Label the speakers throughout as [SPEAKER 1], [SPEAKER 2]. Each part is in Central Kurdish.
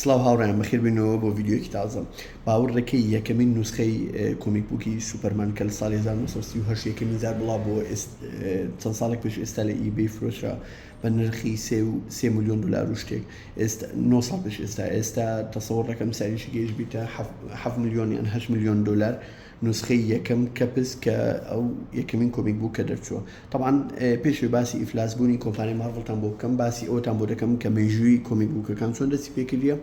[SPEAKER 1] سڵاو هاوڕێیان بەخێربێنەوە بۆ ڤیدیۆیەکی تازە باوەڕ دەکەی یەکەمین نوسخەی کۆمیک بووکی سوپەرمان کە لە ساڵی 1938 یەکەمین جار بڵاو بۆ چەند ساڵێک پێش ئێستا لە ئیبەی فرۆشرا بە نرخی سێ و سێ میلیۆن دلار و شتێک ئێستا 9 ساڵ پێش ئێستا ئێستا تەسەوەڕ دەکەم ساریشی گەیشت بیتە 7 میلیۆن یان 8 میلیۆن دلار نوسخەی یەکەم کەپس کە ئەو یەکەمین کۆمیک بوو کە دەرچووە طبعا پێشێ باسی ئیفلاس بوونی کۆمپانی مارڤڵتان بۆ بکەم باسی ئەوتان بۆ دەکەم کە مێژووی کۆمیک بووکەکان چۆن دەستی پێکردە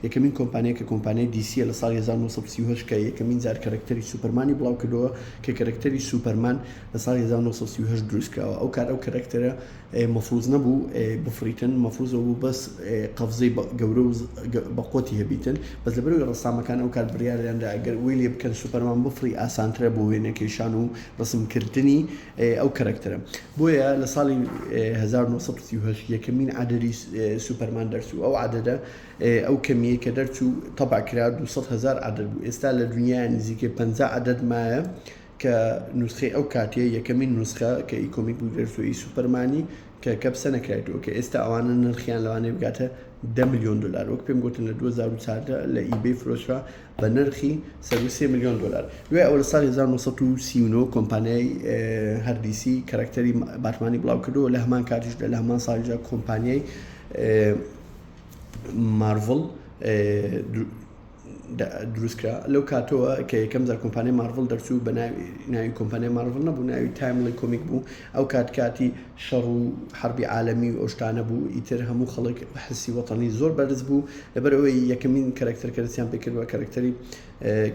[SPEAKER 1] یەکەمین کۆمپانیە کە کۆمپانیای دیسیە لە ساڵ 1930 کە یەکەمین جار کەرەکتەری سوپەرمانی بڵاو کردەوە کە کەرەکتەری سوپەرمان لە ساڵ 1930 دروستکراوە ئەو کار ئەو کەرەکتەرە مەفروز نەبوو بفڕیتن مەفروز ئەوبوو بەس قەفزەی گەورە و بەقوەتی هەبیتن بەس لەبەرەوەی ڕەسامەکان ئەوکات بڕیاریاندا ئەگەر وەی لێبکەن سوپەرمان بفڕی ئاسانترە بۆ وێنە کێشان و ڕەسمکردنی ئەو کەرەکتەرە بۆیە لە ساڵی هەزار و نۆ سەد و سی و هەشت یەکەمین عەدەدی سوپەرمان دەرچوو ئەو عەدەدە ئەو کەمیەی کە دەرچوو تەبع کرا دوو سەد هەزار عەدەد بوو ئێستا لە دونیایە نزیکەی پەنجا عەدەد مایە کە نوسخەی ئەو کاتەیە، یەکەمین نوسخە کە ئی کۆمیک بگرێت و ئی سوپەرمانی کە کە پسە نەکرایتووە، کە ئێستا ئەوانە نرخیان لەوانەیە بگاتە دە ملیۆن دۆلار، وەک پێم گۆتن لە دوو هەزار و چاردە لە ئی بەی فرۆشرا بە نرخی سەروو سێ ملیۆن دۆلار. دوای ئەوە لە ساڵی هەزار و نۆ سەد و سی و نۆ کۆمپانیای هەر دی سی کەرەکتەری باتمانی بڵاو کردەوە، لە هەمان کاتیشدا لە هەمان ساڵیشدا کۆمپانیای مارڤڵ دروست کرا لەو کاتەوە کە یەکەم جار کۆمپانیای مارڤڵ دەرچوو بە ناوی کۆمپانیای مارڤڵ نەبوو ناوی تایمڵی کۆمیک بوو ئەو کات کاتی شەڕ و حربی عالەمی و ئەوشتانە بوو ئیتر هەموو خەڵک حسی وەتەنی زۆر بەرز بوو لەبەر ئەوەی یەکەمین کەرەکتەر کەرسیان پێکردوە کەرەکتەری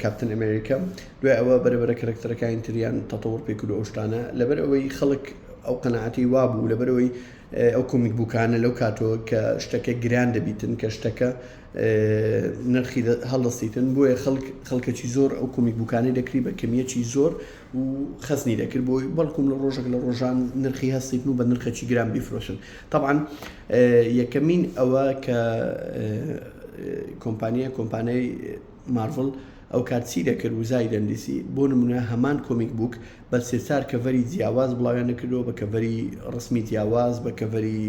[SPEAKER 1] کاپتن ئەمریکا دوای ئەوە بەرەبەرە کەرەکتەرەکانی تریان تەتەوەڕ پێکرد ئەوشتانە لەبەر ئەوەی خەڵک ئەو قەنەعاتی وابوو لەبەرەوەی ئەو کۆمیک بووکانە لەو کاتەوە کە شتەکە گران دەبیتن کە شتەکە نرخی هەڵدەستیتن بۆیە خەڵک خەڵکەکی زۆر ئەو کۆمیک بوکانەی دەکری بە کەمیەکی زۆر و خەزنی دەکرد بۆی بەڵکم لە ڕۆژێک لە ڕۆژان نرخی هەستیتن و بە نرخەکی گران بیفرۆشن طبعاان یەکەمین ئەوە کە کۆمپانیە کۆمپانای مارڤل ئەو کاتچی دەکرد وزای دەندیسی بۆ نمونە هەمان کۆمیک بووک بە سێچار کەڤەری جیاواز بڵاویان دەکردەوە بە کەڤەری ڕسمی جیاواز بە کەڤەری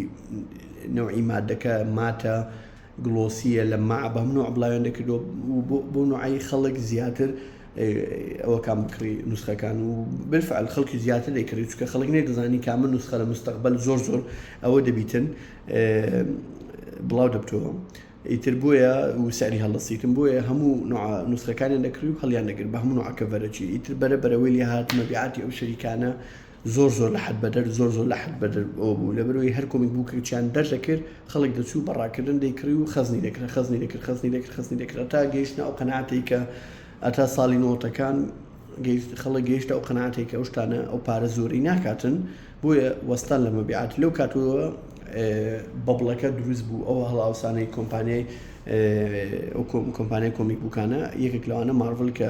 [SPEAKER 1] نەوعی مادەکە ماتە گڵۆسیە لە ماع بە هەم نوع بڵاویان دەکردەوە و بۆ بۆ نوعی خەڵک زیاتر ئەوەکان بکڕی نوسخەکان و بالفعل خەڵکی زیاتر دەیکڕی چکە خەڵک نێ دەزانی کامە نوسخە لە مستەقبل زۆر زۆر ئەوە دەبیتن بڵاو دەبتەوە ئیتر بۆیە و سەری هەڵدەسیتم بۆیە هەموو نوسخەکانیان دەکڕی و هەڵیان دەگر بە هەموو عکە بەرەچی ئیتر بەرە بەرەوەی لێ هاتمە بیعاتی ئەو شەریکانە زۆر زۆر لە حەد بەدەر زۆر زۆر لە حەد بەدەر ئەوە بوو لەبەر ئەوەی هەر کۆمیک بووکێکیان دەردەکرد خەڵک دەچوو بە ڕاکردن دەیکڕی و خەزنی دەکرد خەزنی دەکرد خەزنی دەکرد خەزنی دەکرد هەتا گەیشتنە ئەو قەناعەتەی کە هەتا ساڵی نەوەتەکان گەیشت خەڵک گەیشتە ئەو قەناعەتەی کە ئەو شتانە ئەو پارە زۆری ناکاتن بۆیە وەستان لە مەبیعات لەو کاتەوە بەبڵەکە دروست بوو ئەو هەڵاوسانەی کۆمپانیای ئەو کۆمپانیای کۆمیک بووکانە یەکێک لەوانە مارڤل کە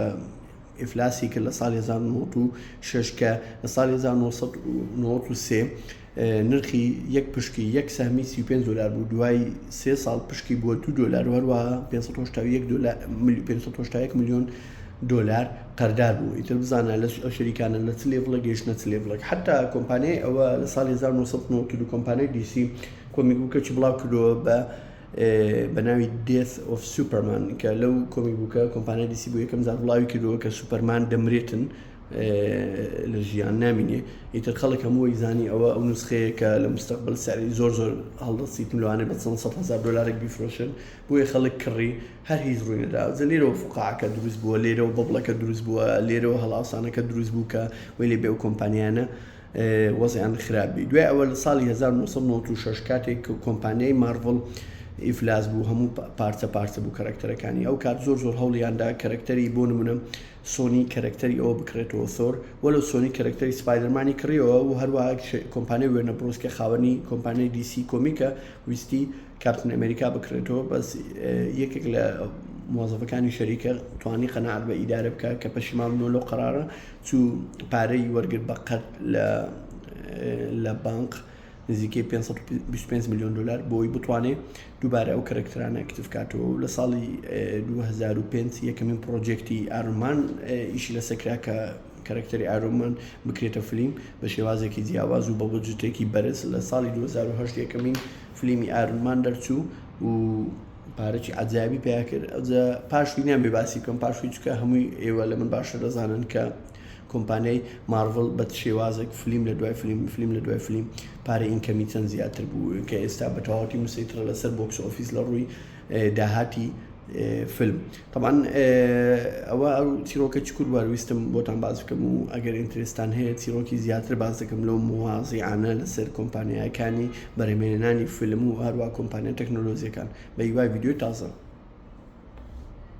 [SPEAKER 1] ئیفلاسی کرد لە ساڵی هەزار و نۆ سەد و شەش کە لە ساڵی هەزار و نۆ سەد و نەوەد و سێ نرخی یەک پشکی یەک سەهمی سی و پێنج دۆلار بوو دوای سێ ساڵ پشکی بووە دوو دۆلار و هەروەها پێنج سەد و هەشتا و یەک دۆلار ملی- پێنج سەد و هەشتا و یەک ملیۆن دۆلار قەردار بوو ئیتر بزانە لە ئەو شەریکانە لە چ لێڤڵێک گەیشتنە چ لێڤڵێک حتا کۆمپانیای ئەوە لە ساڵی 1992 کۆمپانیای دیسی کۆمیک بوکەچی بڵاو کردەوە بە بە ناوی Death of Superman کە لەو کۆمی بووکە کۆمپانای دیسی بۆ یەکەم جار بڵاوی کردووە کە سوپەرمان دەمرێتن لە ژیان نامینێ ئیتر خەڵک هەمووی زانی ئەوە ئەو نسخەیە کە لە مستەقبل سەری زۆر زۆر هەڵدەسیت لەوانێ بە چەند سەد هزار دلارێک بیفرۆشن بۆیە خەڵک کڕی هەر هیچ ڕووی نەدا جە لێرەوە فقاعەکە دروست بووە لێرەوە بەبڵەکە دروست بووە لێرەوە هەڵاوسانەکە دروست بوو کە وەی لێ بێ و کۆمپانیانە وەزعیان خراپ بی دوای ئەوە لە ساڵی 1996 کاتێک کە کۆمپانیای مارڤڵ ئیفلاس بوو هەموو پارچە پارچە بوو کەرەکتەرەکانی ئەو کات زۆر زۆر هەوڵیاندا کەرەکتەری بۆ نمونە سۆنی کەرەکتەری ئەوە بکرێتەوە سۆر وە لە سۆنی کەرەکتەری سپایدەرمانی کڕیەوە و هەروە کۆمپانیای وێنە بڕۆسکە خاوەنی کۆمپانیای دیسی کۆمیکە ویستی کاپتن ئەمریکا بکرێتەوە بەس یەکێک لە موازەفەکانی شەریکە توانی قەنار بە ئیدارە بکە کە پەشیمان بۆ لەو قرارە چوو پارەی وەرگرت بە قەرز لە بانق نزیکەی 525 ملیۆن دلار بۆی بتوانێت دووبارە ئەو کەرەکترانە ئەکتف کاتەوە و لە ساڵی 2005 یەکەمین پرۆژێکتی ئارمان ئیشی لە سەکرا کە کەرەکتەری ئارۆمان بکرێتە فلیم بە شێوازێکی جیاواز و بە بۆجتێکی بەرز لە ساڵی 2010 یەکەمین فلیمی ئارمان دەرچوو و پارەکی عەجایبی پیا کرد ئەوجا پاشوی نیان بێ باسی بکەم پاشوی چکە هەمووی ئێوە لە من باشتر دەزانن کە کۆمپانیای مارڤڵ بە شێوازێک فلیم لە دوای فلیم فلیم لە دوای فلیم پارە ئینکەمی چەند زیاتر بوو کە ئێستا بە تەواوەتی مسەیترە لەسەر بۆکس ئۆفیس لە ڕووی داهاتی فلم تەبعەن ئەوە ئەو چیرۆکە چکور بوار ویستم بۆتان باس بکەم و ئەگەر ئینترستان هەیە چیرۆکی زیاتر باس دەکەم لەو موازیعانە لەسەر کۆمپانیایەکانی بەرەمێنانی فیلم و هەروە کۆمپانیا تەکنۆلۆزیەکان بە هیوای ڤیدیۆی تازە.